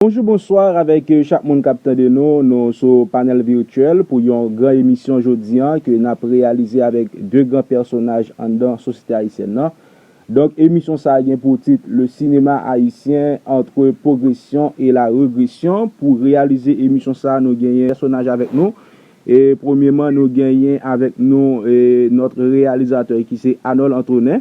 Bonjou bonsoir avèk chak moun kap tande nou, nou sou panèl virtuel pou yon gran emisyon jodi an ke nap reyalize avèk 2 gran pèsonaj anndan sosyete ayisyèn nan. Donk emisyon sa gen pou tit le cinéma haïtien entre progression et la regression pou reyalize emisyon sa nou genyen pèsonaj avèk nou e premyeman nou genyen avèk nou notre realisateur ki se Anòl Antonen.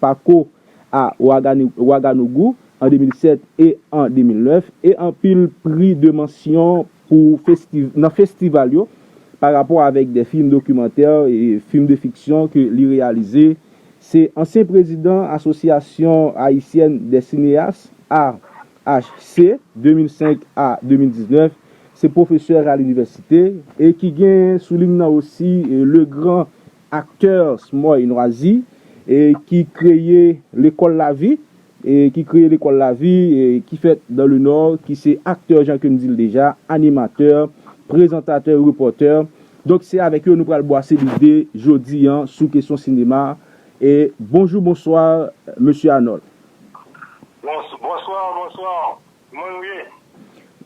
Pako a Ouaganou-Ouagadougou an 2007 e an 2009 e anpil pri de mansyon pou nan festival yo pa rapò avèk de fim dokimantè e fim de fiksyon ke li reyalize se ansyen prezidan Asosyasyon Ayisyèn dè Sineyas, AHC, 2005 a 2019 se pwofesè a linivèsite e ki gen sou lim nan osi le gran Acteurs Moy Nwazi ki kreye Lekòl Lavi ki kreye Lekòl Lavi ki fèt dans le Nord ki se aktè jan ke m di l deja, animatè, prezantatè, repòtè. Donk se avèk yo nou pral bwase lide jodi an sou kesyon sinema. Bonjou, bonswa Mesye Arnold. Bonsoir, bonsoir. Kman nou ye?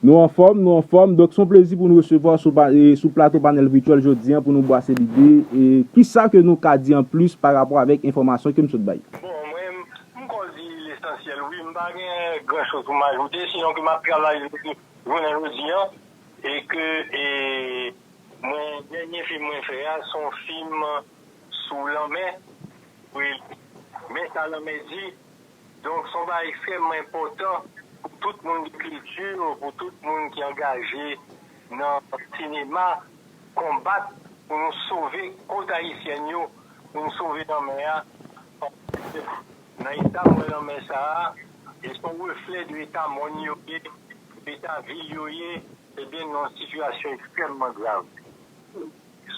Nou anfòm, nou anfòm. Donk se yon plezi pou nou resevwa w sou plato Panèl Vityèl jodi an pou nou bwase lide. Ki sa ke nou ka di an plis pa rapò avèk enfòmasyon ke m sot bay? Bon, mwen, m kò di lesansyèl wi. M pa gen gran choz pou m ajoute, sinon ke m ap travay depi jounen jodi an e ke e mwen dènye fim mwen fè a se yon fim sou lanmè, men sa lanmè di Donk son bagay ekstrèmman enpòtan pou tout moun gen kilti, pou tout moun ki angaje nan sinema konbat pou nou sove kot ayisyèn yo, pou nou sove lanmè a paske nan eta m wè lanmè sa a li son reflè de eta mòn yo ye, de eta vil yo ye, ebyen nan sitiyasyon ekstrèmman grav.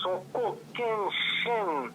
Son kokenn chenn.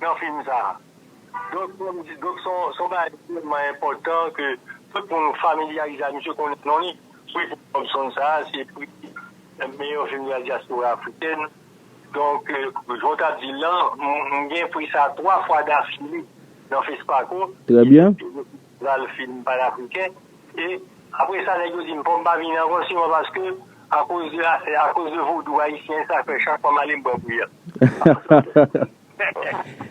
nan fim sa a. Donk kòm m di, donk se yon bagay ki vrèman enpòtan ke tout moun familyarize avèk misye, konnen non li. Prix Paul Robson sa a, se prix meyè fim nan dyaspora afrikèn. Donk, jan w t ap di l lan, m gen prix sa a 3 fwa dafile nan Fespaco. Trè byen. Pral fin panafriken e Apre sa nèg yo dim fòm pa vini ankò siman paske akoz de afè akoz de vodou ayisyen sa fè chak fwa malem pran kouyèt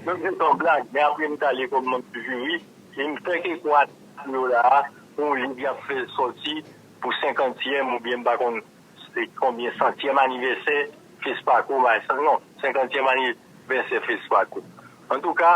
donk se ton blag men apre mtale kòm mwen toujou ri em fè kèk mwa tann yo la a pou yon liv yap fè sòti pou senkantyèm oubyen mpa konn se konbyen santyèm anivèsè Fespako m'en non senkantyèm anivèsè Fespako antouka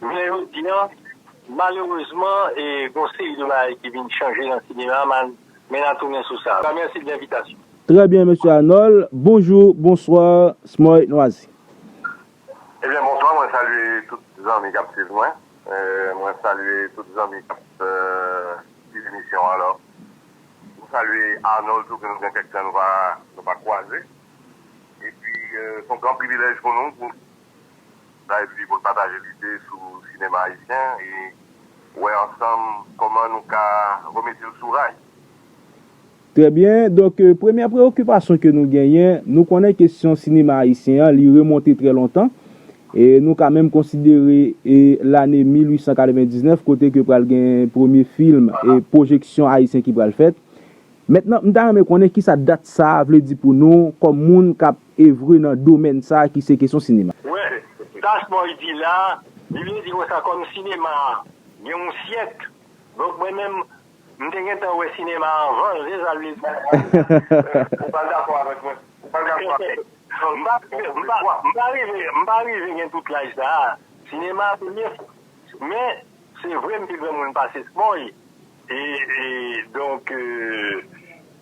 Jounen jodi an, malerezman, gon seri de bagay ki vin chanje nan sinema a, men na tounen sou sa. Mèsi de envitasyon. Trè byen Mesye Arnold. Bonjou, bonswa, Smoy Nwazi. Ebyen bonswa, mwen salye tout zanmi kap swiv mwen. Mwen salye tout zanmi kap swiv emisyon an. Alò, mwen salye Arnold tou ke nou gen kèk tan nou pa kwaze. Epi, son gran privilèj pou nou pou. Live li pou l pataje lide sou sinema ayisyen e wè ansanm kòman nou ka remete l sou ray. Trè byen, donk premyè preyokipasyon ke nou genyen, nou konnen kesyon sinema ayisyen an li remonte trè lontan, e nou ka menm konsidere e lane 1899 kote ke pral gen premye film e pwojeksyon ayisyen ki pral fèt. Mentnan m ta renmen konnen kisa dat sa a vle di pou nou kòm moun k ap evre nan domèn sa ki se kesyon sinema. Well, das boy di la, li vle di konsa kòm sinema a gen yon syèk, donk mwen menm m te gentan wè sinema a anvan l, se sa l vle di. Ou pa dakò avèk mwen? Ou pa dakò avèk mwen? M pa, m pa, m pa rive, m pa rive gen tout laj sa a. Sinema a premye fwa. Men, se vre m pi granmoun pase Smoy, e, e, donk,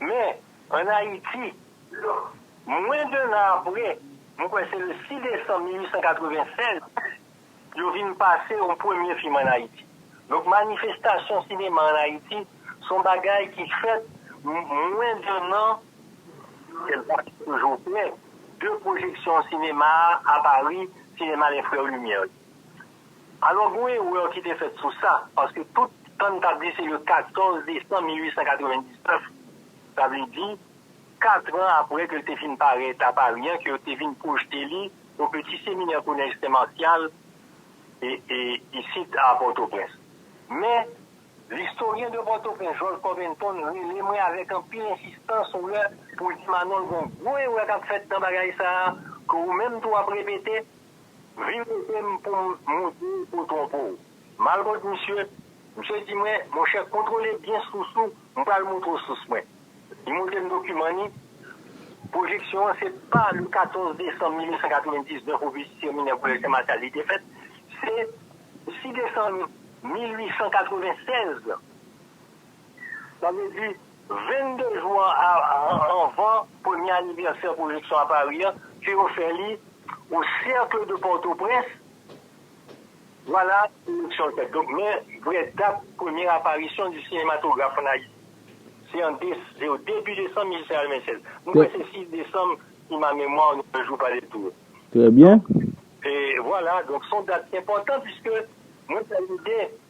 Men, an Ayiti, mwen de nan apre, mwen kwè se le 6 desanm 1896, yo vin pase yon premye fim an Ayiti. Donk manifestasyon sinema an Ayiti se yon bagay ki fèt mwen de nan, kèl pa te toujou klè, de pwojeksyon sinema a Pari, sinema lè frè Limyè yo. Alò gon erè ki te fèt sou sa, paske tout tan n t ap di se le 14 desanm 1899, sa vle di katran apre ke l te fin parèt a Pari an, ke yo te vin pwojte li o peti seminè kolèj Sen Marsyal isit a Pòtoprens. Men, L'historien de Port-au-Prince, Georges Corbenton, rele mwen avèk anpil ensistans yon lè pou l di Manòl gon gwo erè k ap fèt nan bagay sa a, ke ou menm tou w ap repete, Vin kote m pou m montre w pou w twonpe w. Mal kont misye, misye di mwen, monchè kontwole byen sous ou, m pral montre w sous mwen. Li montre m dokiman li. Pwojeksyon an se pa le 14 desanm 1899 ou vizit seminè Kolèj Sen Masyal li te fèt, se 6 desanm 1896. Sa vle di, 22 jou anvan premye anivèsè pwojeksyon a Pari an, ke yo fè li o Cercle de Port-au-Prince, vwala eleksyon fèt. Donk men vrè dat premye aparisyon di sinematograf ann Ayiti. Se an se o debi desanm 1896. Mwen kwè se 6 desanm si ma memwa ne me jou pa de tour. Trè byen. Donk, e vwala, donk son dat enpòtan piske mwen fè lide.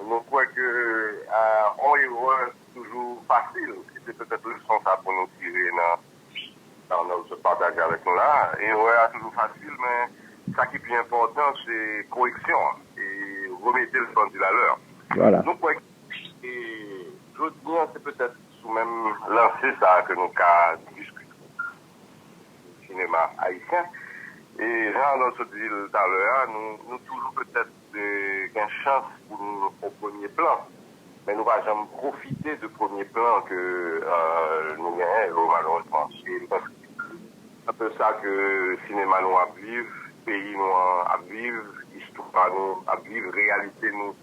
Nou kwè ke yon erè toujou fasil e se petèt leson sa pou nou tire nan sa Arnold sot pataje avèk nou la a. Erè a toujou fasil men sa ki pi enpòtan se koreksyon an e remete l pendil a lè. Nou kwè ke jodi an se petèt sou menm lanse sa a ke nou ka diskite sou sinema ayisyen e jan Arnold sot di l talè a nou toujou petèt de gen chans pou nou o premye plan men nou pa janm pwofite de premye plan ke nou genyen yo malerezman e m panse se anpe sa ke sinema nou ap viv peyi nou an ap viv istwa nou ap viv reyalite nou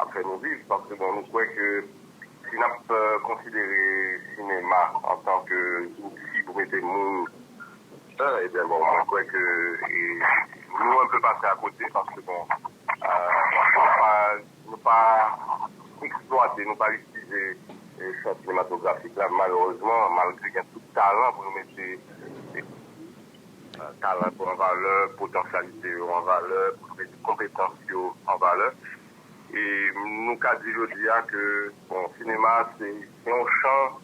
ap fè nou viv paske bon nou kwè ke si n ap konsidere sinema antan ke zouti pou mete moun. E byen bon mwen kwè ke nou anpe pase akote paske bon nou pa eksplwate, nou pa itilize chan sinematografik la malerezman malgre gen tout talan pou nou mete talan pou an valè, potansyalite yo an valè, pou nou mete konpetans yo an valè. E nou ka di jodi a ke bon sinema se yon chan.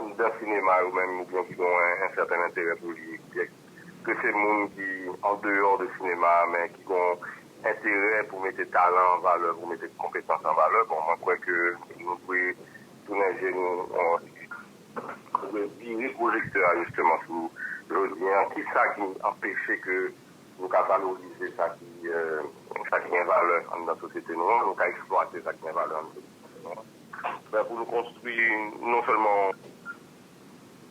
Anndan sinema yo menm ou byen ki gonwen en sèten enterè pou li, byèk ke se moun ki an deyò de sinema a men ki gon enterè pou mete talan an valè, pou mete konpetans an valè, bon mwen kwè ke nou dwe tounen je nou, nou dwe vire pwojektè a jisteman sou jodi an, ki sa ki anpeche ke nou ka valorize sa ki gen valè anndan sosyete nou an, nou ka eksplwate sa ki gen valè anndan sosyete nou an. Men pou nou konstwi non sèlman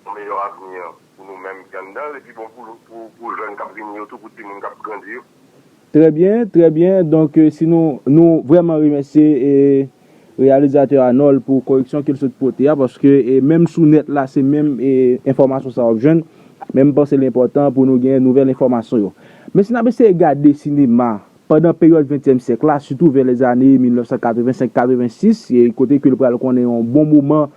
yon meyò avni pou nou menm ki anndan l, epi bon pou jèn k ap vini yo tou, pou timoun k ap grandi yo. Trè byen, trè byen. Donk si nou, nou vrèman remèsye reyalizatè Anòl pou koreksyon ke l sot pote a, paske menm sou nèt la se menm enfòmasyon sa w ap jwenn, men m panse l enpòtan pou nou gen nouvèl enfòmasyon yo. Men si n ap eseye gade sinema Pandan peryòd ventyèm syèk la, sitou vè lèzane 1985-86, kote ke l pral konnen yon bon moman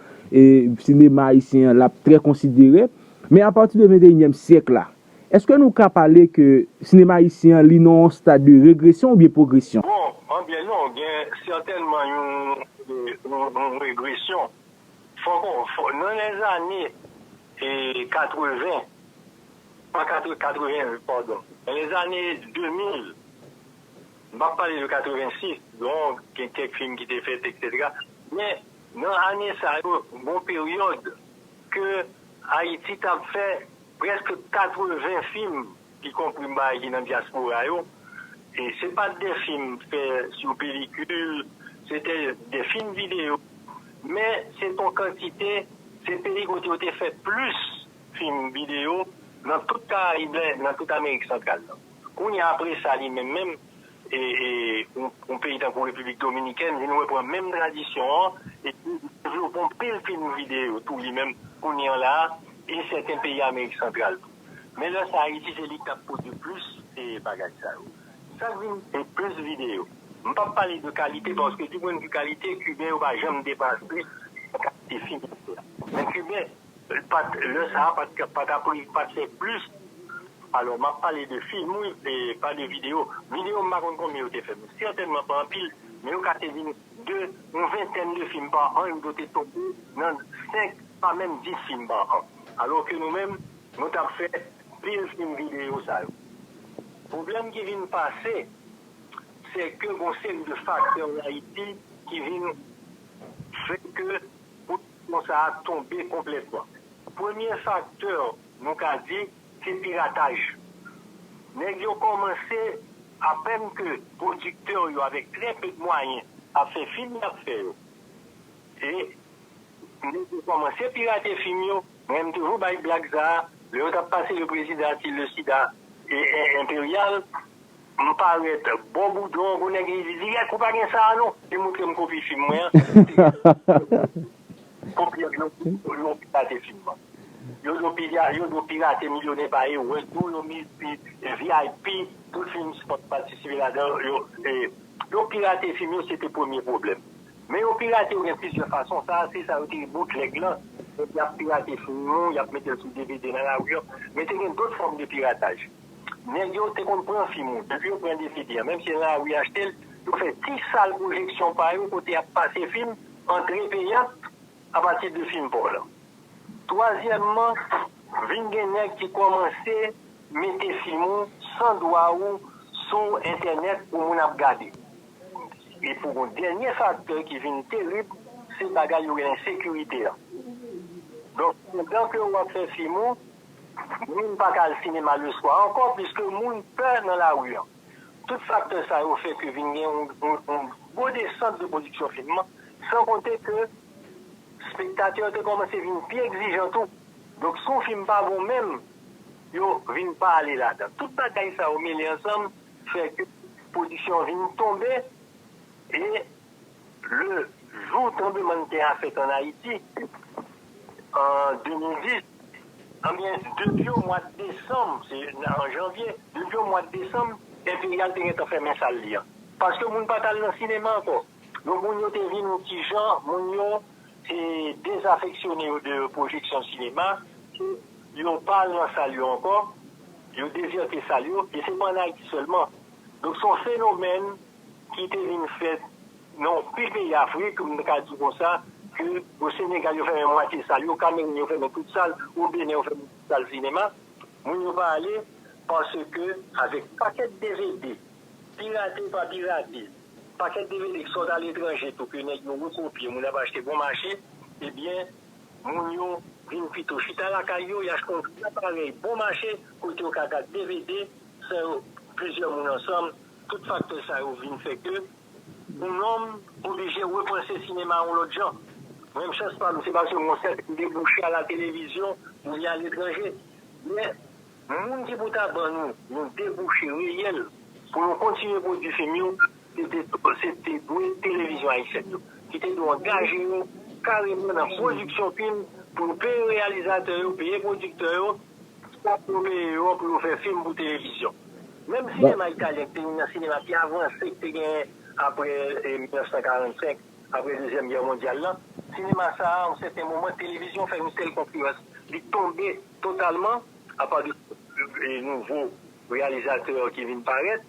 sinema ayisyen an l ap trè konsidere. Men apati de venteyinyèm syèk la, èske nou ka pale ke sinema ayisyen an li nan yon stad de regresyon oubyen pwogresyon? Bon, an byen non, gen sètènman yon regresyon. Nan lèzane 80, pa 88 pardon nan lèzane 2000 m'pap pale de 86 donk gen kèk fim ki te fèt etc men nan ane sa yo gon peryòd ke Ayiti tap fè prèske 80 fim ki konpri m'bay ki nan dyaspora yo e se pat de fim fè sou pelikil se te de fim videyo men se ton kantite se peyi kote yo te fè plis Fim, videyo, nan tout Karayib la e nan tout Amerik Santral la. Kounye a apre sa li menm menm, yon peyi tankou Repiblik Dominikèn vin repran menm tradisyon an epi li devlope yon pil fim videyo tou li menm kounye an la a e sèten peyi Amerik Santral tou. Men lè sa Ayiti se li k ap pwodui plis bagay sa yo. Sa k vin e plis videyo. M p ap pale de kalite paske di pwennvi kalite Kiben yo pa janm depase nan kalite fim yo fè a. Men Kiben Li pat lè sa pat ka pat ap ri pat fè plis alò map pale de film wi e pa de video video m pa konn konbyen yo te fè men sètènman pa anpil men yo ka te vin de yon ventèn de film pa an yo do te tonbe nan 5 pa menm 10 film pa an alò ke nou menm nou tap fè pil film video sa yo pwoblèm ki vin pase sè ke gon seri de faktè an ayiti ki vin fè ke pou. Pon sa a tonbe konplètman. Premye faktè nou ka di se pirataj. Nèg yo kòmanse apèn ke pwodiktè yo avèk trè pe mwayen ap fè fim y ap fè yo. Se Nèg yo kòmanse pirate fim yo. Mwen m toujou bay blag sa a. Lè yo t ap pase Le Président Artille le Sida Impérial, M parèt bo boudon pou nèg li di di gèk ou pa gen sa a non li moutre m kopi fim mwen an kopi ak yon yon pirate fim an yo do pira yo do pirate milyonè pa yo wè tou yon mizi vip tout fim spòt patisipe ladan yo e yo pirate fim yo se te premye pwoblèm men yo pirate yo gen plizyè fason sa a se sa yo te rele boutlèg lan nèg y ap pirate fim ou y ap mete l sou dvd nan lari an men te gen dòt fòm de pirataj. Nèg yo te konn pran fim ou depi yo pran dvd an menm si lari achte l yo fè ti sal pwojeksyon pa yo kote y ap pase fim antre peyant apati de fim pa w lan. Twazyèmman, vin gen nèg ki kòmanse mete fim ou san dwa ou sou entènèt pou moun ap gade. E pou gon dènye faktè ki vin terib se bagay yo rele ensekirite an. Donk pandan ke w ap fè fim ou. Moun pa ka al sinema leswa ankò piske moun pè nan lari an. Tout faktè sa yo fè ke vin gen yon gwo desant de pwodiksyon fim nan, san konte ke spektatè yo te kòmanse vin pi egzijan tou. Donk si yon fim pa bon menm, yo vin pa ale ladan. Tout bagay sa yo mele ansanm fè ke pwodiksyon an vin tonbe e. Le jou tranblemann tè a fèt an Ayiti an 2010, anbyen depi o mwad desanm, se an janvye, depi o mwad desanm, Enperyal te gentan fèmen sal li an. Paske moun pa t al nan sinema ankò. Donk moun yo te vin yon ti jan, moun yo te dezafeksyone yo de pwojeksyon sinema, yo pa al nan sal yo ankò, yo dezète sal yo, e se pa an Ayiti sèlman. Donk se yon fenomèn ki te vin fèt nan anpil peyi Afrik, m ka di konsa, ke o Senegal yo fèmen mwatye sal yo, Kameroun yo fèmen tout sal, o Benen yo fèmen tout sal sinema, moun yo pa ale, paske avèk pakèt dvd, pirate pa pirate, pakèt dvd ki sot aletranje tou ke nèg yo rekopye, moun ap achte bon mache, ebyen moun yo vin pito chita lakay yo, y achte yon gwo aparèy bon mache, kote yo ka gad dvd san yo plizyè moun ansanm. Tout faktè sa yo vin fè ke yon nonm oblije repanse sinema yon lòt jan. Mwen menm chans pa m se pa sou yon sèt ki debouche a la televizyon oubyen a letranje. Men, moun ki pou ta ban nou yon debouche reyèl pou nou kontinye pwodui fim yo, se te dwe televizyon ayisyèn yo. Ki te dwe angaje yo kareman nan pwodiksyon fim pou yo peye reyalizatè yo, peye pwodiktè yo. Stop yo meye yo pou yo fè fim pou televizyon. Menm sinema italyen ki te youn nan sinema pi avanse ki te genyen apre 1945, apre dezyèm gè mondyal la, sinema sa a yon sèten moman televizyon fè yon sèl konkirans, li tonbe totalman apa de nouvo reyalizatè ki vin parèt.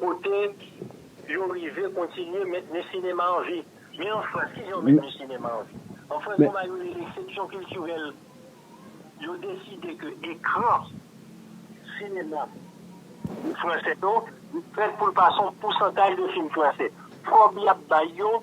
Kote yo rive kontinye mentni sinema an vi. Men an Frans, kijan yo mentni sinema an vi? An Frans, yon bagay yo rele seksyon kiltirèl. Yo deside ke ekran sinema franse yo, li fèt pou l pase yon pousantaj de fim franse. Kòb y ap bay yo,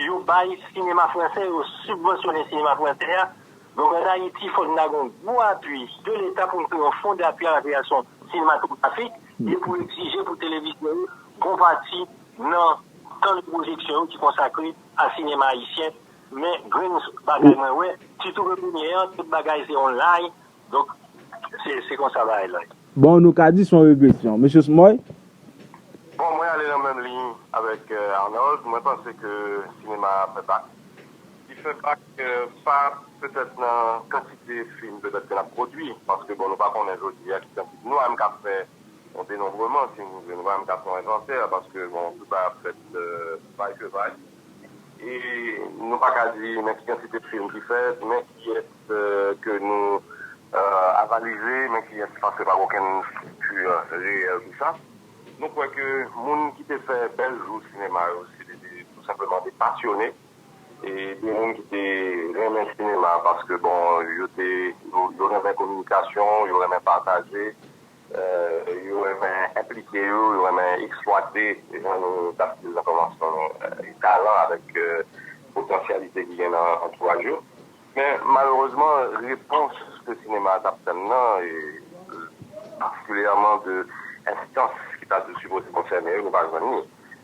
yo bay sinema franse, yo sibvansyone sinema franse a. Donk ann Ayiti, fòk n ta gen yon gwo apui de Leta pou n kreye yon fon dapui a la kreyasyon sinematografik. Dwe pou egzije pou televizyon yo konvati nan tan de pwojeksyon yo ki konsakre a sinema ayisyen men grenn bagay mwen wè sitou ke kounye an tout bagay se online donk se konsa bagay la ye. Bon nou ka di son regresyon. Mesye Smoy? Bon mwen ale nan menm liy avèk Arnold mwen panse ke sinema a ap pèpak Li fè bak pa petèt nan kantite fim petèt ke lap pwodwi, paske bon nou pa konnen jodi a ki kantite, nou pa menm ka fè yon denonbreman si nou vle, nou pa menm ka fè yon envantè paske bon tout bagay ap fèt vay ke vay e nou pa ka di men ki kantite fim ki fèt, men kiyès ke nou avalize, men kiyès paske pa gen okenn estrikti reyèl pou sa. Nou kwè ke moun ki te fè bèl jou sinema yo se te tou senpleman de pasyone. E gen moun ki te renmen sinema paske bon yo te yo renmen kominikasyon, yo renmen pataje, yo renmen enplike yo, yo renmen eksplwate jan nou t ap di l nan kòmansman an talan avèk potansyalite ki gen nan antouraj yo. Men malerezman repons ke sinema a t ap tann nan e patikilyèman de enstans ki ta sipoze konsène yo nou pa jwenn ni.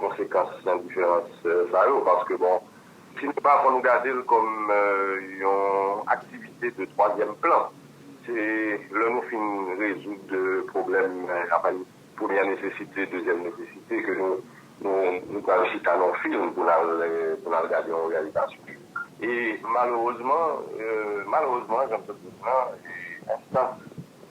konsekans nan diferans sa yo paske bon si nou pa konn gade l kòm yon aktivite de twazyèm plan se lè nou fin rezoud pwoblèm apal premyè nesesite dezyèm nesesite ke nou pral chita nan yon film pou n al gade yon reyalizasyon e malerezman malerezman janm toujou di nan enstans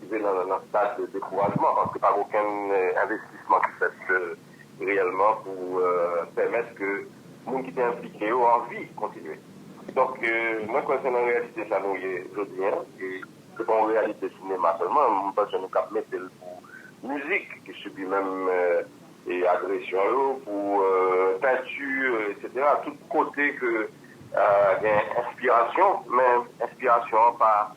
rive nan stad dekourajman paske pa gen okenn envestisman ki fèt reyèlman pou pèmèt ke moun ki te enplike yo anvi kontinye. Donk, mwen kwè se nan reyalite sa nou ye jodi an e se pa yon reyalite sinema sèlman, m panse nou kab mete l pou mizik ki sibi menm agresyon yo, pou penti eksetera, tout kote ke gen enspirasyon men enspirasyon an pa.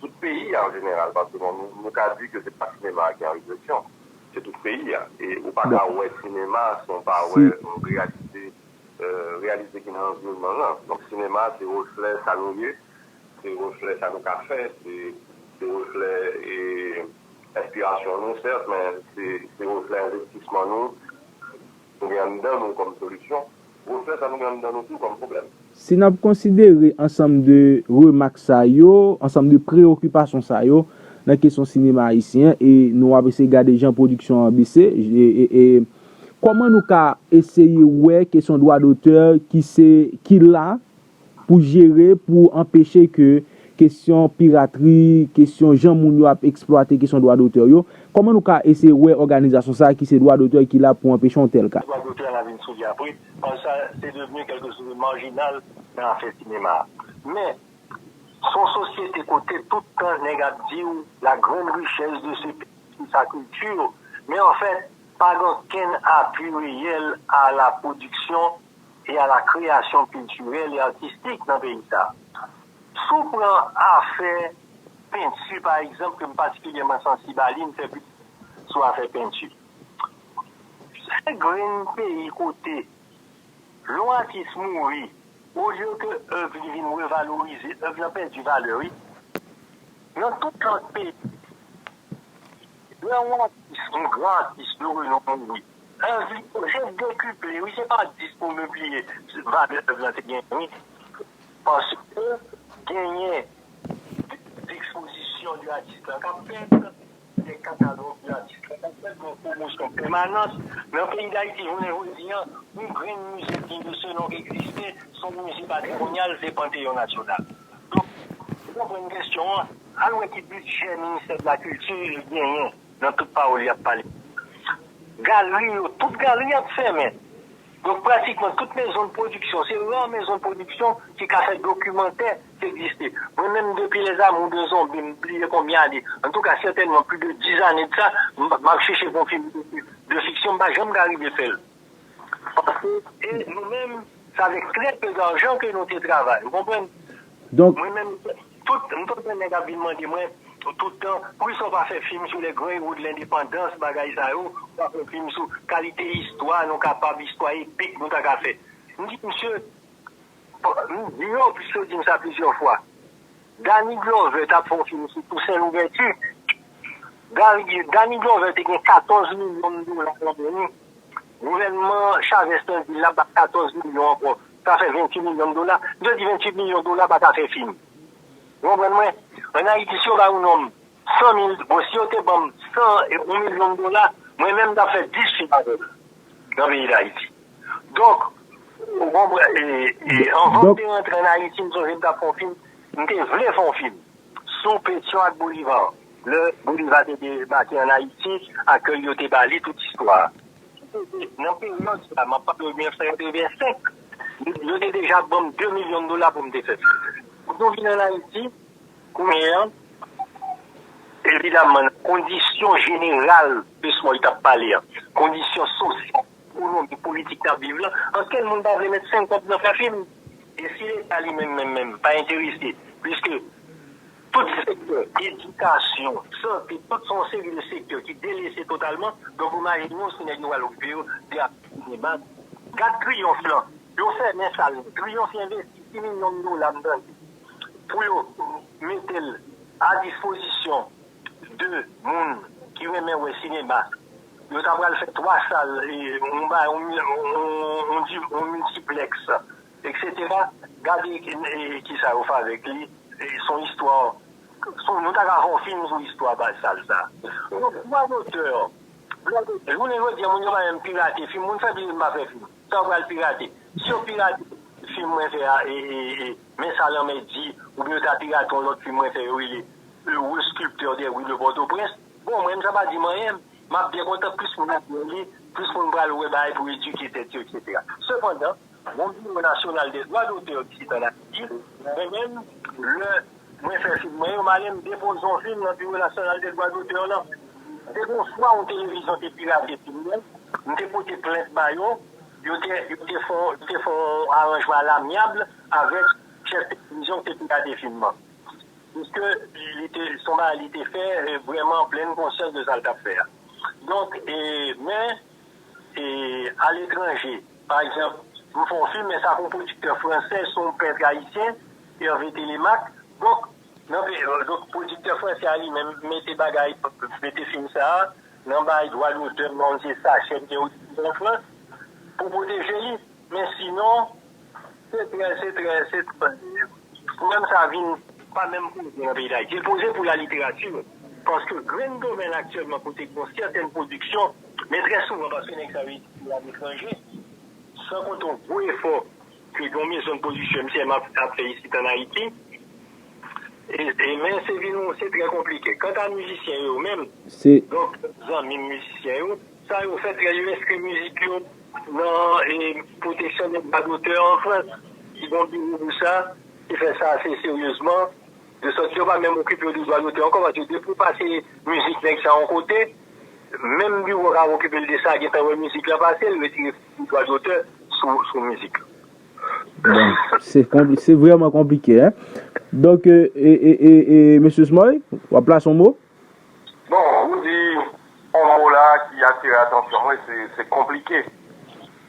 Tout peyi a an jeneral, paske bon nou ka di ke se pa sinema a ki an regresyon, se tout peyi a. E ou pa ka wè sinema san w pa wè reyalite, reyalite ki nan anviwonman an. Donk sinema se reflè sa nou ye, se reflè sa nou ka fè, se reflè enspirasyon nou sèt, men se reflè envestisman nou, nou gen anndan nou kòm solisyon. Gwosè sa nou gen anndan nou tou kòm pwoblèm. Si n ap konsidere ansanm de remak sa yo, ansanm de preyokipasyon sa yo nan kesyon sinema ayisyen an e nou ap eseye gade jan pwodiksyon an bese, e kòman nou ka eseye wè kesyon dwa dotè ki se, ki la pou jere, pou anpeche ke kesyon piratri, kesyon jan moun yo ap eksplwate kesyon dwa dotè yo, kòman nou ka eseye wè òganizasyon sa a ki se dwa dotè ki la pou anpeche yon tèl ka? Dwa dotè a va vin sou li apre, paske sa se devni kèlke chose marjinal nan afè sinema a. Men, se yon sosyete kote tout tan nèg ap di w la grande richesse de ce pays c'est sa culture, men anfèt, pa gen okenn apui reyèl a la pwodiksyon e a la kreyasyon kiltirèl e atistik nan peyi sa. Si w pran afè penti pa egzanp ke m patikilyèman sansib a li, m fè plis sou afè penti. Se grenn peyi kote lè yon atis mouri, olye ke èv li vin revalorize, èv lan pèdi valè wi. Nan tout lòt peyi, lè yon atis, yon gran atis de renon mouri, Èvi, se dekuple wi se pa 10 pou milpliye valè èv lan te genyen wi. Paske genyen de ekspozisyon de atis lan k ap fèt, de katalòg de atis lan k ap fèt, yon pwomosyon pèmanans. Nan peyi Dayiti jounen jodi an, yon grenn mize dye de se non k egziste, s on mize patrimonyal, se Panteyon Nasyonal. Donk, ou konprann kesyon an, al wè ki bidjè Ministè de la Kilti li genyen. nan tout pawòl yap pale ak galri yo tout galri ap fèmen donk pratikman tout mezon pwodiksyon se rare mezon pwodiksyon ki ka fè dokimantè ki egziste mwen menm depi les amours de zombi m bliye konbyen ane antouka sètènman pli de 10 ane de sa map chèche konfime de fiksyon m pa janm ka rive fèl. Panse e nou menm se avèk trè pe darjan ke nou te travay. Ou konprann? Donk. Mwen menm tout, m tout tan nèg ap vin mande mwen tout tan, poukisa w pa fè fim sou lè Grey Wood lendepandans bagay sa yo, w pa fè fim sou kalite istwa nou kapab, istwa epik nou ta ka fè. M di misye, m di yo, piske yo di m sa plizyè fwa, Danny Glover t ap fè yon fim sou Tousen Louvèti, Danny Glover te gen 14 milyon dola nan men li. Gouvènman Chavez lan di l ap ba 14 milyon ankò, sa fè 28 milyon dola. M te di 28 milyon dola pa ta fè fi m. Ou konprann mwen? An Ayiti, si yo bay yon nonm 100 mil, bon, si yo te ban m 100, yon milyon dola, mwen menm m t ap fè 10 fi avè m nan peyi Dayiti. Donk, ou konprann, anvan m te rantre an Ayiti, m sonje m t ap fè yon fi m, m te vle fè yon fi m. Sou Pétion ak Bolivar, lè Bolivar te debake an Ayiti, akèy yo te ba li, tout istwa. Ki te di, nan peryòd sa a, m ap pale w 1985, yo te deja ban m 2 milyon dola pou m te fè fwontyè. Pou nou vin an Ayiti, kounye a, evidamman, nan kondisyon jeneral Luis Moy t ap pale a, kondisyon sosyal, Pou longue politik nap viv lan, ankenn moun pa vle met 5 kòb nan fè fim. E si leta li menm menm menm pa enterese, puiske tout sektè, edikasyon, sante, tout se yon seri de sektè ki delese totalman, donk ou imajine w si nèg yo pral okipe yo de aktè sinema. Gad triyonf lan, yo fèmen sal lan, triyonf envesti 6 milyon dola mtande pou yo mete l a dispozisyon. 2 moun ki renmen wè sinema yo ta pral fè 3 sal yon ba yon yon multiplex etc gade kisa yo fè avèk li son istwa nou ta ka fè yon film sou istwa baz sal sa yon dwa dotè jounen jodi moun yo pa menm pirate film moun fè bliye m pa fè film sa yo pral pirate si yo pirate film mwen fè a men sa lanmè di oubyen yo ta pirate yon lòt film mwen fè yo rele Heureux sculpteur des rues de Port-au-Prince, bon mwen sa pa di m anyen, m ap byen kontan plis moun ap byen li, plis moun pral wè bagay pou edike tèt yo etc. Sepandan, yon biwo nasyonal de dwa dotè isit an Ayiti, mwen menm lè mwen fè fim mwen yo, m ale m depoze yon fim nan biwo nasyonal de dwa dotè lan. Se yon fwa yon televizyon te pirate fim mwen, m te pote plent ba yo, yo te fè yon aranjman a l'amiable avèk chèf televizyon ki te pirate fim lan. Piske li te, se yon bagay li te fè vrèman plenn konsyans de sa l t ap fè a. Donk, men, aletranje, pa egzanp, m fè yon fim, men sa ke yon pwodiktè fransè, se yon pèntre ayisyen, Hervé Télémaque, donk, donk pwodiktè fransè a li menm mete bagay, mete fim sa a nan bay dwa dotè nan yon seri sachè ki gen an Frans pou pwoteje li. Men sinon. Se trè, se trè, se trè. Pwoblèm sa a vin pa menm poze nan peyi Dayiti. Li poze pou laliteratur, paske grenn domèn aktyèlman kote gen yon sètèn pwodiksyon, men trè souvan paske nèg sa yo etidye aletranje, san konte yon gwo efò ke gen yon mezon de pwodiksyon MCM ap fè isit an Ayiti, e men se vin yon, se trè konplike. Kanta mizisyen yo menm, donk zanmi m mizisyen yo, sa yo fè trè, yo enskri mizik yo. Nan pwoteksyon de dwa dotè an Frans, ki gen yon biwo pou sa, ki fè sa ase seryezman, de sòt yo pa menm okipe yo de dwa dotè ankò, paske depi ou pase mizik nèg sa yon kote, menm biwo kap okipe l de sa gentan wè mizik la pase, l retire tout dwa dotè sou mizik la. Bon, se konpli, se vrèman konplike, hein! Donk, e, e, e, e, Mesye Smoy, wap plase yon mo? Bon ou di on mo la ki atire atansyon mwen se konplike.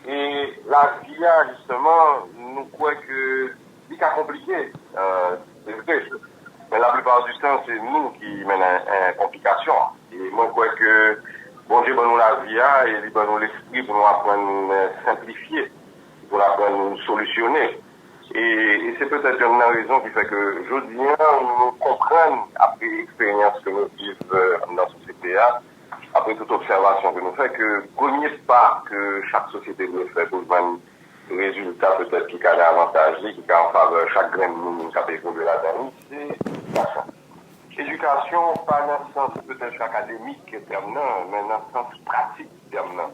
E lavi a jisteman nou kwè ke li ka konplike se vre men la plipa di tan se nou ki mennen konplikasyon an. E mwen kwè ke Bondye ban nou lavi a e li ban nou lespri pou nou aprann senplifye, pou nou aprann solisyone. E se petèt yonn nan rezon ki fè ke jodi a nou konprann apre eksperyans ke nou viv anndan sosyete a, apre tout obsèvasyon ke nou fè ke premye pa ke chak sosyete dwe fè pou l jwenn rezilta petèt ki ka nan avantaj li, ki ka an favè chak grenn moun k ap evolye ladan li, se edikasyon. Edikasyon pa nan sans petèt akademik tèm nan, men nan sans pratik tèm nan.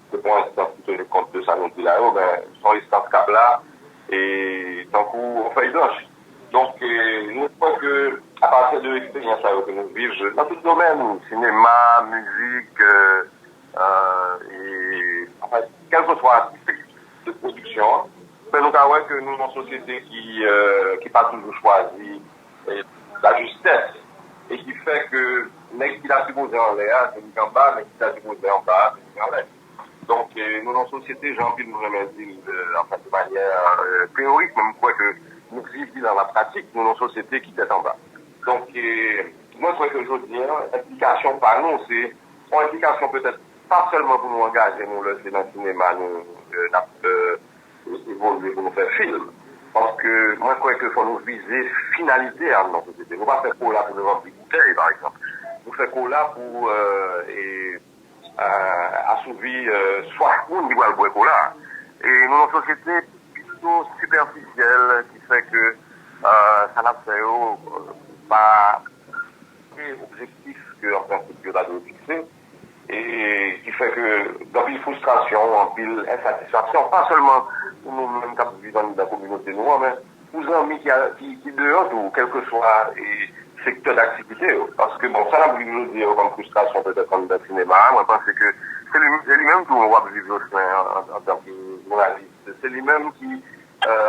Se pa yon enstans ki teni kont de sa nou di la yo, men se yon enstans k ap la tankou yon fèy blanch. Donk, nou kwè ke apati de eksperyans sa yo ke nou viv nan tout domèn, sinema, mizik, kèlkeswa tip de pwodiksyon, fè nou ka wè ke nou yon sosyete ki pa toujou chwazi. lajistès e ki fè ke nèg ki ta sipoze anlè a vin anba, nèg ki ta sipoze anba a vin anlè. Donk, nou nan sosyete, jan anpil moun renmen di l, anfen de manyè teyorik, men m kwè ke nou viv li nan lapratik, nou nan sosyete ki tèt anba. Donk, mwen kwè ke jodi a, enplikasyon pa nou se yon enplikasyon petèt pa sèlman pou nou angaje nou lè se nan sinema nou n ap Nou evolye pou nou fè film. Paske mwen kwè ke fò nou vize finalite a nan sosyete. Nou pa fè kola pou nou ranpli boutèy pa egzanp. Nou fè kola pou asouvi swaf moun ki pral bwè kola a. E nou nan sosyete pito sipèfisyèl ki fè ke sa n ap fè yo pa objektif ke an prensip yo ta dwe fikse. e ki fè ke gen anpil fwistrasyon, anpil ensatisfaksyon, pa sèlman pou nou menm k ap viv anndan kominote nou an, men pou zanmi ki deyò tou, kèlkeswa sektè daktivite yo. Paske, bon, sa n ap viv jodi yo kòm fwistrasyon petèt anndan sinema a, mwen panse ke se li menm tou w ap viv Jocelin antanke jounalis, se li menm ki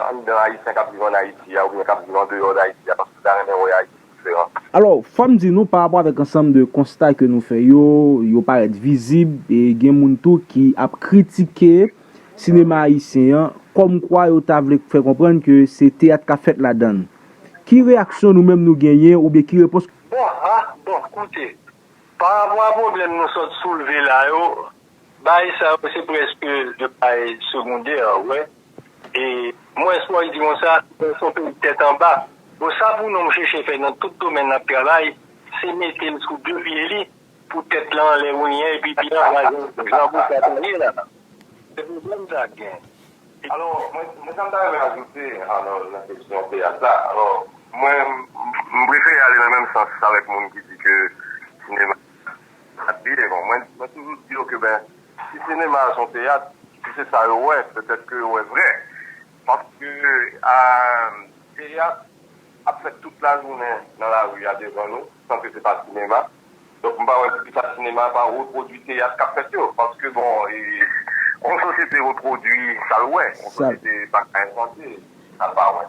anndan Ayisyen k ap viv ann Ayiti a oubyen k ap viv andeyò Dayiti a, paske l ta renmen wè Ayiti. diferans. Alò, fò m di nou, pa rapò avèk ansanm de konsta ke nou fè yo, yo parèt vizib, e gen moun tou ki ap kritike sinema ayisyen an, kòm kwa yo ta vle fè konprann ke se teyat k ap fèt ladan l. Ki reyaksyon nou menm nou genyen oubyen ki repons. Bon, ah, bon, koute, pa rapò a pwoblèm nou sot soulve la yo. Bagay sa yo se preske de bagay segondè wè e mwen esplwa di konsa nou son peyi tèt anba bon sa pou nonm cheche fè nan tout domèn lap travay se metel sou de pye li pou tèt lan anlè wennyen epi pi anba jan bouda ta ye la se pwoblèm sa ak gen. Alò mwen mwen sam ta renmen ajoute alò nan kesyon teyat la alò mwen m prefere ale nan menm sans avèk moun ki di ke sinema Map di devan mwen mwen toujou di yo ke ben si sinema a son teyat si se sa yo wè petèt ke yo wè vrè paske teyat ap fèt tout lajounen nan lari a devan nou san ke se pa sinema donk m pa wè poukisa sinema a pa repwodui teyat kap fèt yo paske bon yon sosyete repwodui sa l wè yon sosyete pa ka envante sa l pa wè.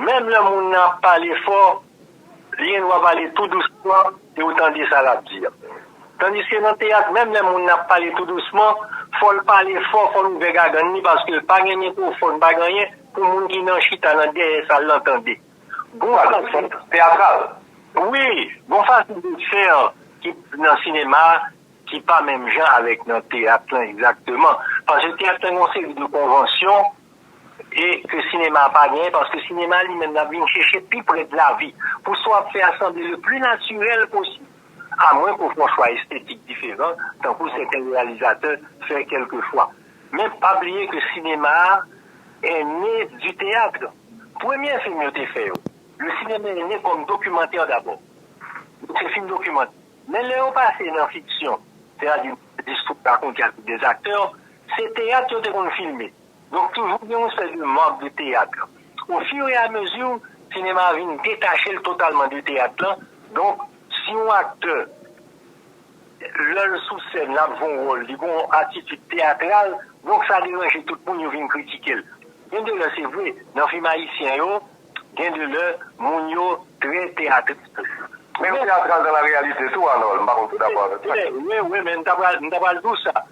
Menm lè moun nan ap pale fò, li gen dwa pale tou dousman e ou tande sa l ap di a. Tandiske nan teyat, menm lè moun nan ap pale tou dousman, fò l pale fò, fò l ouvè gagann li paske l pa gen mikwofòn, pa gen anyen pou moun ki nan chita nan dèyè sal lan tande. Bon fason teyatral. Wi, bon fason desen an ki nan sinema a ki pa menm jan avèk nan teyat lan egzakteman. Paske teyat lan gen yon seri de konvansyon e ke sinema a pa genyen paske sinema li menm lap vin cheche pi prè de lavi pou sa wap fè a sanble le pli natirèl posib a mwen ke w fon chwa estetik diferan tankou sèten reyalizatè fè kelke fwa men pa bliye ke sinema a è ne du théâtre premye fim yo te fè yo le cinéma est né comme documentaire d'abord donk se fim dokimantè men lè yo pase nan fiksyon sètadi des histoires racontées avec des acteurs se teyat yo te konn filme. Donk toujou gen yon seri de manb de teyat lan. Ofireamezi, sinema a vin detache l totalman de teyat lan. Donk, si yon aktè, lè l sou sèn, l ap jwe yon wòl, li gen yon atitid teyatral, donk sa deranje tout moun, yo vin kritike l. Gen de lè, se vre, nan fim ayisyen yo, gen de lè moun yo trè teyatral. Men yo teyatral dan la reyalite tou, Anòl. M pa konn si w dakò avèk mwen. Wi, wi, men m ta pral di w sa.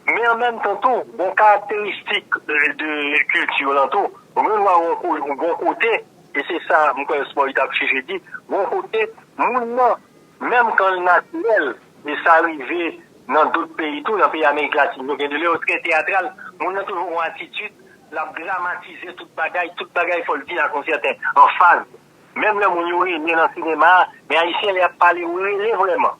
Men an menm tan tou, gon karakteristik de kilti yo lan tou. Renwa gon kote, e se sa m kwè Smoy tap cheche di, gon kote moun lan, menm kan l natirèl, e sa rive nan dot peyi tou, nan peyi amerik latin yo, gen de lè yo trè teyatral, moun lan toujou gon atitid, lap dramatize tout bagay, tout bagay fò l di ak yon sèten anfaz. Menm lè moun yo rele nan sinema a, men ayisyen lè yap pale yo rele vrèman.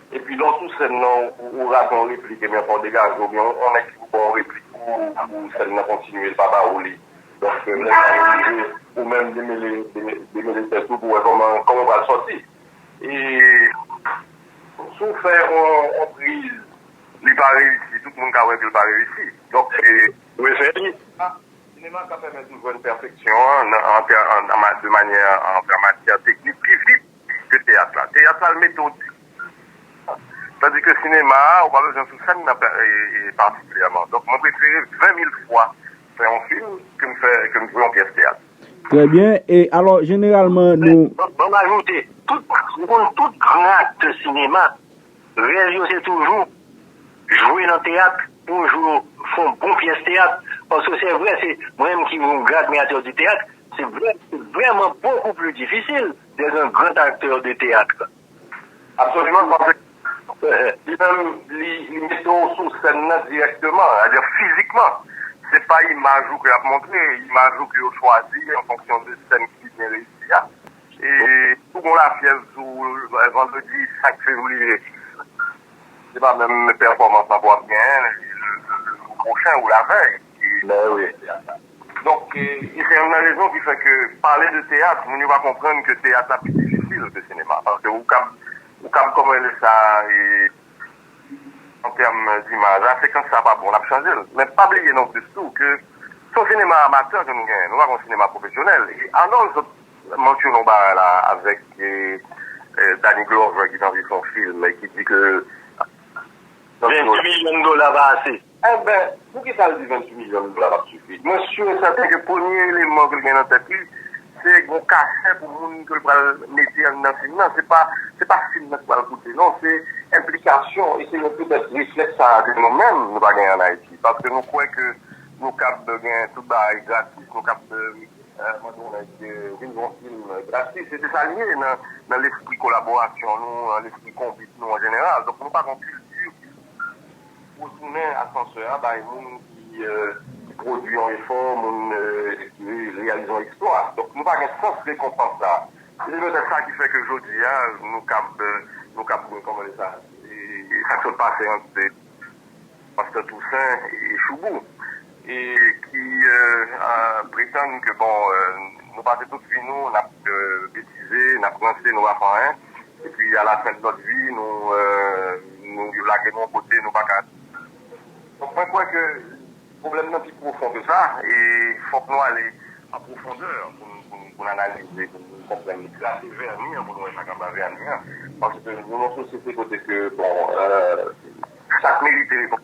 Epi lè w sou sèn nan ou rate yon replik ebyen fò w degaje oubyen yon nèg ki pou ba w replik pou sèn nan kontinye l pa ba ou li. Donk lè sa yo rive ou menm demele demele tèt ou pou wè kòman kòman w pral sòti. E si w fè yon priz li pa reyisi tout moun ka wè ke l pa reyisi. Donk ou eseye li. Sinema ka pèmèt ou jwenn pèfeksyon an nan an tè de manyè an matyè teknik pi vit. Ke teyat la. Teyat la l mete w diskòn. Tandi ke sinema a, ou pa bezwen sou sèn nan patikilyèman. Donk mwen prefere 20 mil fwa fè yon fim ke m fè, ke m jwe yon pyès teyat. Trè byen. E alò jeneralman nou. Ban m ajoute, tout, ou konn tout gran aktè sinema, rèv yo se toujou jwe nan teyat, pou yon jou yo fè yon bon pyès teyat. Paske se vre, se mwen menm ki yon gran admiratè di teyat. Se vrèman bokou pli difisil dè zan grand aktè de teyatr. Absoliman, paske li menm li mete w sou sèn nan dirèkteman, sètadi fizikman. Se pa imaj ou ke y ap montre, imaj ou ke yo chwazi an fonksyon de sèn ki pi byen reyisi a. E si w gen yon lafyèv sou ou vandredi 5 fevriye, se pa menm pèfòmans lan pou w ap genyen le jou pwochen ou lavèy. Bèè wi. Donk e se youn nan rezon ki fè ke pale de teyat moun yo pa konprann ke teyat la pi difisil ke sinema. Paske ou kab ou kab kòman rele sa e an tèm dimaj a sekans sa pa bon nap chanje l. Men pa bliye non plis tou ke se yon sinema amatè ke nou genyen nou pa gen yon sinema pwofesyonèl e Arnold sot mansyone yon bagay la avèk e Danny Glover ki t anvi fè yon film e ki di ke. Donk 20 milyon dola pa ase. Enben, poukisa l di 28 milyon dola p ap sifi? Mwen si e sèten ke premye eleman ke l gen nan tèt li, se yon kachè pou moun ke l pral mete anndan fim nan. Se pa se pa fim nan ki pral koute non, se enplikasyon e se yon petèt reflèks sa a ke nou menm nou pa gen ann Ayiti. Paske nou kwè ke nou kab gen tout bagay gratis, nou kab mande yon nèg vin yon fim gratis. E se sa li ye nan lespri kolaborasyon nou, nan lespri konbit nou an jeneral. Donk nou pa gen yon kilti ki Pou tounen asansè a bay moun ki pwodui yon efò, moun ki reyalize yon eksplwa. Donk nou pa gen sans rekonpans sa a. Se petèt sa ki fè ke jodi a nou kab, nou kab di kòman di sa, sa k sot pase ant Pastè Tousen e Choubou. e ki pretann ke bon nou pase tout vi nou nap betize, nap ranse, nou pa fè anyen, epi a la fen de notre vie nou yo lage nou yon kote nou paka donk mwen kwè ke pwoblèm nan pi pwofon ke sa e fòk nou ale an pwofondè pou n analize, pou n konprann li, grate vèni an pou nou wè sak anba vèni an paske nou nan yon sosyete kote ke bon sak merite.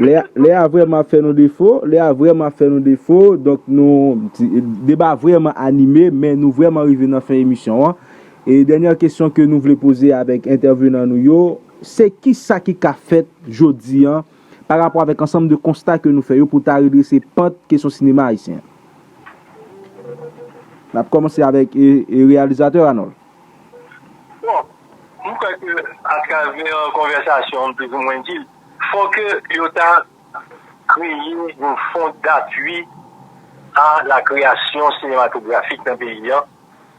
Lè a vrèman ap fè nou defo, lè a vrèman ap fè nou defo, donk nou, deba a vrèman anime, men nou vrèman rive nan fen emisyon an, e dènyè kesyon ke nou vle poze avèk entèvenan nou yo, se kisa ki ka fèt jodi an, pa rapò avèk ansanm de konsta ke nou fè yo pou ta redrese pant kesyon sinema ayisyen an? N ap kòmanse avèk reyalizatè Anòl. Bon, m kwè ke atravè konvèsasyon m plizoumwen di l. Fò ke yo ta kreye yon fon dapwi a la kreyasyon sinematografik nan peyi an,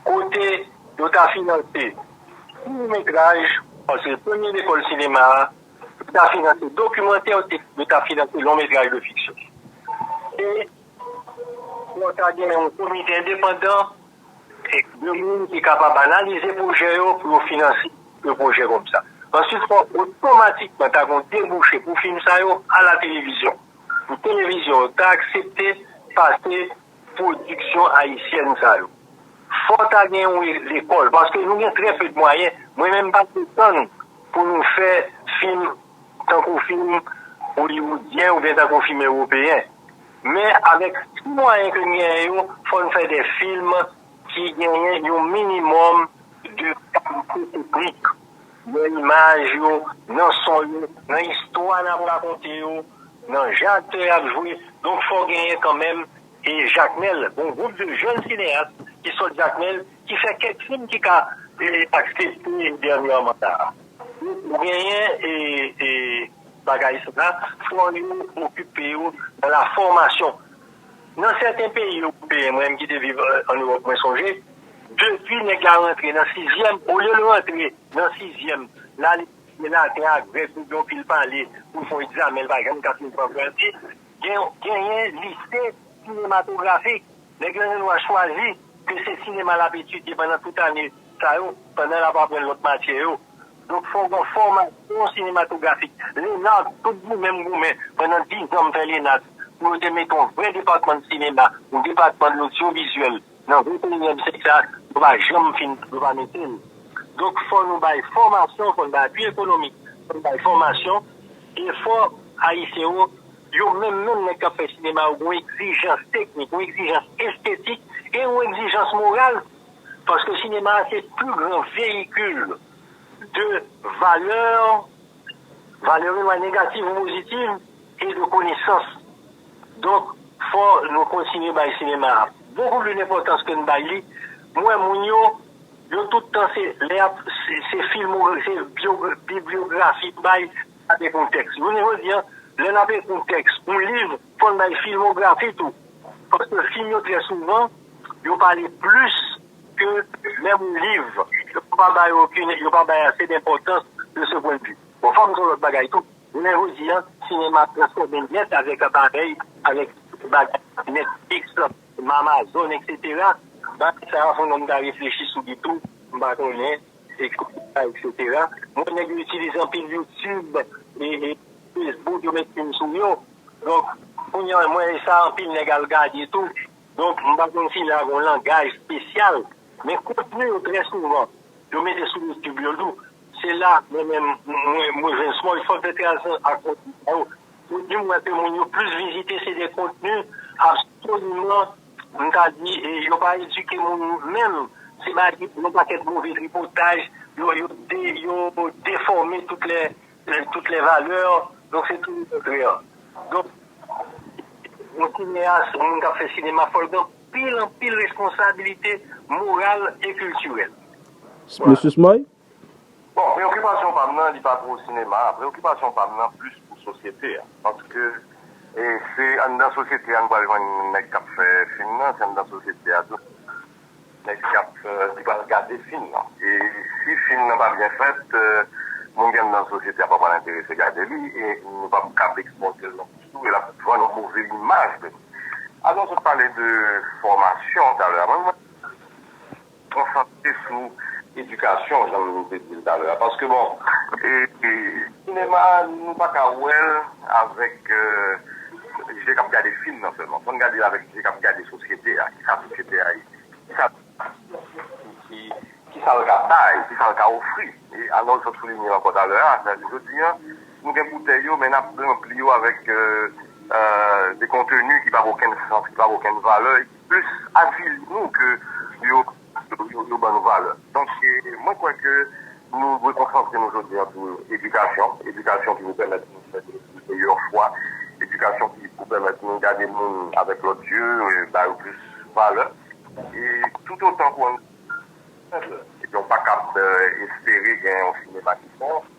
kote yo ta finanse kout metraj, paske premye lekòl sinema a, yo ta finanse dokimantè, yo ta finanse lon metraj de fiksyon. E pou ta gen yon komite endepandan. Se granmoun ki kapab analize pwojè yo pou yo finanse yon pwojè kòm sa. Ansuit fò otomatikman ta gen yon debouche pou fim sa yo al a televizyon. Pou televizyon yo ta aksepte pase pwodiksyon ayisyèn sa yo. Fò ta gen yon lekòl paske nou gen trè pe de mwayen. Mwen menm m pa pretann pou nou fè fim tankou fim oliwoudyen oubyen tankou fim ewopeyen. Men avèk ti mwayen ke n genyen yo, fò n fè de film ki genyen yon minimòm de kalite teknik nan imaj yo, nan son yo, nan istwa n ap rakonte yo, nan jan aktè yo ap jwe. Donk fò genyen kanmenm e Jakmèl, yon gwoup de jèn sineyas ki sot Jakmèl, ki fè kèk film ki ka aksepte dènyèman la. Donk ou genyen e. Bagay sa a fò yo okipe yo nan la fòmasyon. Nan sèten peyi ewopeyen, mwen menm ki te viv ann Ewòp mwen sonje, depi nèg la rantre nan sizyèm, olye l rantre nan sizyèm, l al etidye laten ak grèk oubyen yon pil pale pou l fè yon egzamen l pa janm ka fin pran vèti, genyen lise sinematografik. Nèg la gen dwa chwazi ke se sinema l ap etidye pandan tout ane sa yo, pandan l ap aprann lòt matyè yo. Donk fòk gon fòmasyon sinematografik. Lenard tout goumen m goumen pandan 10 zan m fè Lenard pou yo te mete yon vrè depatman sinema, yon depatman lodyovizyèl nan 21 yèm syèk sa yo pa janm fin yo pa mete l. Donk fò nou bay fòmasyon, fò n bay apui ekonomik, fò n bay fòmasyon e fò Ayisyen yo, yo menm menm nèg k ap fè sinema yo gon egzijans teknik, yon egzijans estetik e yon egzijans moral. Paske sinema a se pli gran veyikil de valè, valè yo lwa negativ ou pozitiv, e de konesans. Donk, fò nou kontinye bay sinema a bokou pli denpòtans ke n bay li. M wè moun yo, yo tout tan se lè y ap, se filmo, se bibliografi yo bay, y ap ekri yon tèks. Jounen jodi a, lè n ap ekri yon tèks, yon liv, Fò n bay filmografi tou, paske fim yo trè souvan yo pale plis ke menm liv, yo pa ba yo okin, yo pa bay ase denpòtans de se pwen de vi. Bon, fò m di w lòt bagay tou, jounen jodi a, sinema ap transfòme nèt avèk aparèy, avèk bagay Netflix, Amazon, eksetera, bagay sa a, fò n wè m ta reflechi sou li tou, m pa konnen. etc. M wè nèg yo itilize anpil youtube, facebook yo met film sou yo donk kounya m wè sa anpil nèg al gade tou donk m pa konn si la gon langaj spesyal men kontni yo trè souvan yo mete sou youtube yo tou se la mwen menm mwen jwenn small fòk fè tranzisyon ak kontni sa yo kontni m wè ke moun yo plis vizite se de kontni absoliman M ka di yo pa edike moun yo menm se bay yon pakèt move tripotaj yo yo defòme tout lè tout lè valè donk se tou lekontrè donk yon sineyas yon moun k ap fè sinema fòl gen anpil anpil responsabilite moral e kiltirèl. Mesye Smoy, Bon, preokipasyon pa m nan li pa pou sinema a, preokipasyon pa m nan plis pou sosyete a. Paske se anndan sosyete a nou pral jwenn nèg k ap fè fim nan, se anndan sosyete a tou nèg ki ap ki pral gade fim nan. E si fim nan pa byen fèt, moun ki anndan sosyete a pa pral enterese gade li e nou p ap ka ap ekspòte l non plis tou e l ap vann yon move imaj de nou. Alòs ou te pale de fòmasyon talè a, mwen menm mwen. konsantre sou edikasyon jan nou te di l talè a paske bon sinema a nou pa ka wè l avèk je k ap gade fim nan sèlman fò n gade l avèk je k ap gade sosyete a kisa sosyete a ye kisa kisa l ka bay kisa l ka ofri e Anòl sot soulinye l ankò talè a jodi an nou gen boutèy yo men n ap ranpli yo avèk de konteni ki pa gen okenn sans ki pa gen okenn valè plis avili nou ke yo ban nou valè. Donk mwen kwè ke nou dwe konsantre nou jodi an sou edikasyon, edikasyon ki pou pèmèt nou fè de meyè chwa, edikasyon ki pou pèmèt nou gade moun avèk lòt zye, ba yo plis valè. E toutotan kouran nou fèb, ebyen ou pa kab espere gen yon sinema ki bon.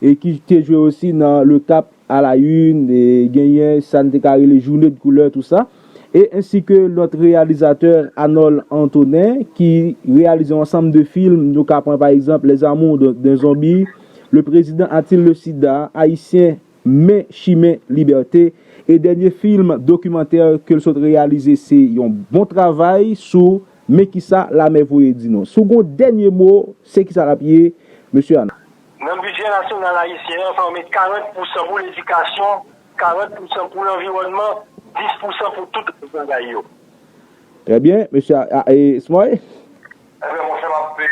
e ki te jwe osi nan Le Cap à la une, genyen sa n te ka rele Journée de couleur tout ça, e ensi ke lòt reyalizatè Anòl Antonen ki reyalize yon ansanm de film, nou ka pran pa egzanp Les amours d'un zombie, Le président a-t-il le sida, Ayisyen men chimen libète, e dènye film dokimantè ke l sot reyalize se yon bon travay sou Men kisa lamè voye di nou. Si w gen yon dènye mo, se kisa l ap ye, Mesye Anòl? Nan bidjè nasyonal ayisyen an, fè w met 40 pousan pou ledikasyon, 40 pousan pou lanviwònman, 10 pousan pou tout lòt bagay yo. Trè byen, mesye a e Smoy? Ebyen monchè map pe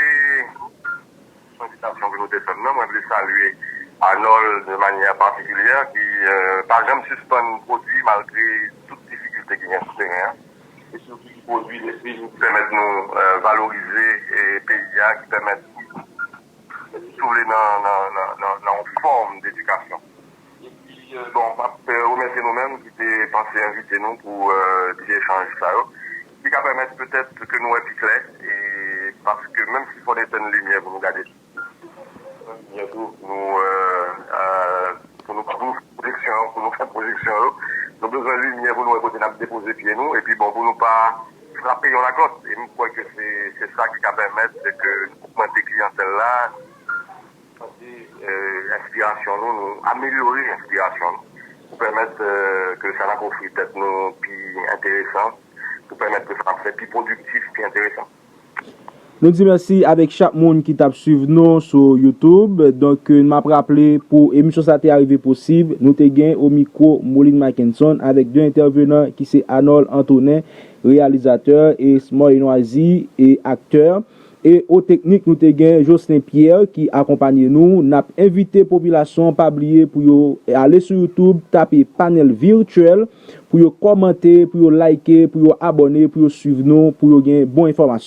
Son sitasyon ke nou te fèm nan mwen vle salye Anòl de manyè patikilyè ki pa janm sispann pwodwi malgre tout difikilte ki gen sou teren an e sitou ki pwodwi lespri ki pèmèt nou valorize peyi a ki pèmèt Si w vle nan yon fòm d'edikasyon. Epi bon m ap remèsye nou menm ki te panse envite nou pou ti echanj sa yo ki ka pèmèt petèt ke nou wè pi klè e paske menm si fò n etèn limyè pou nou gade pi klè tou pou nou pou nou fè pwojeksyon pou nou fè pwojeksyon yo nou bezwen limyè pou nou wè kote n ap depoze pye nou epi bon pou nou pa. frape yon laglòt e m kwè ke se sa ki ka pèmèt ke nou ogmante kliyantèl la, santi enspirasyon nou, nou amelyore enspirasyon nou pou pèmèt ke sa n ap ofri tèt nou pi enteresan, pou pèmèt ke sa n ap fè pi pwodiktif, pi enteresan. Nou di mèsi avèk chak moun ki tap swiv nou sou youtube donk map raple pou emisyon sa te arive posib nou te gen o mikwo Moline Mackenson avèk 2 entèvenan ki se Anol Antonin reyalizatè e Smoy Noizy e aktè e o teknik nou te gen Jocelin Pierre ki akonpanye nou nap envite popilasyon pa bliye pou yo ale sou youtube tape Panel Virtuel pou yo kòmante pou yo like pou yo abòne pou yo swiv nou pou yo gen bon enfòmasyon.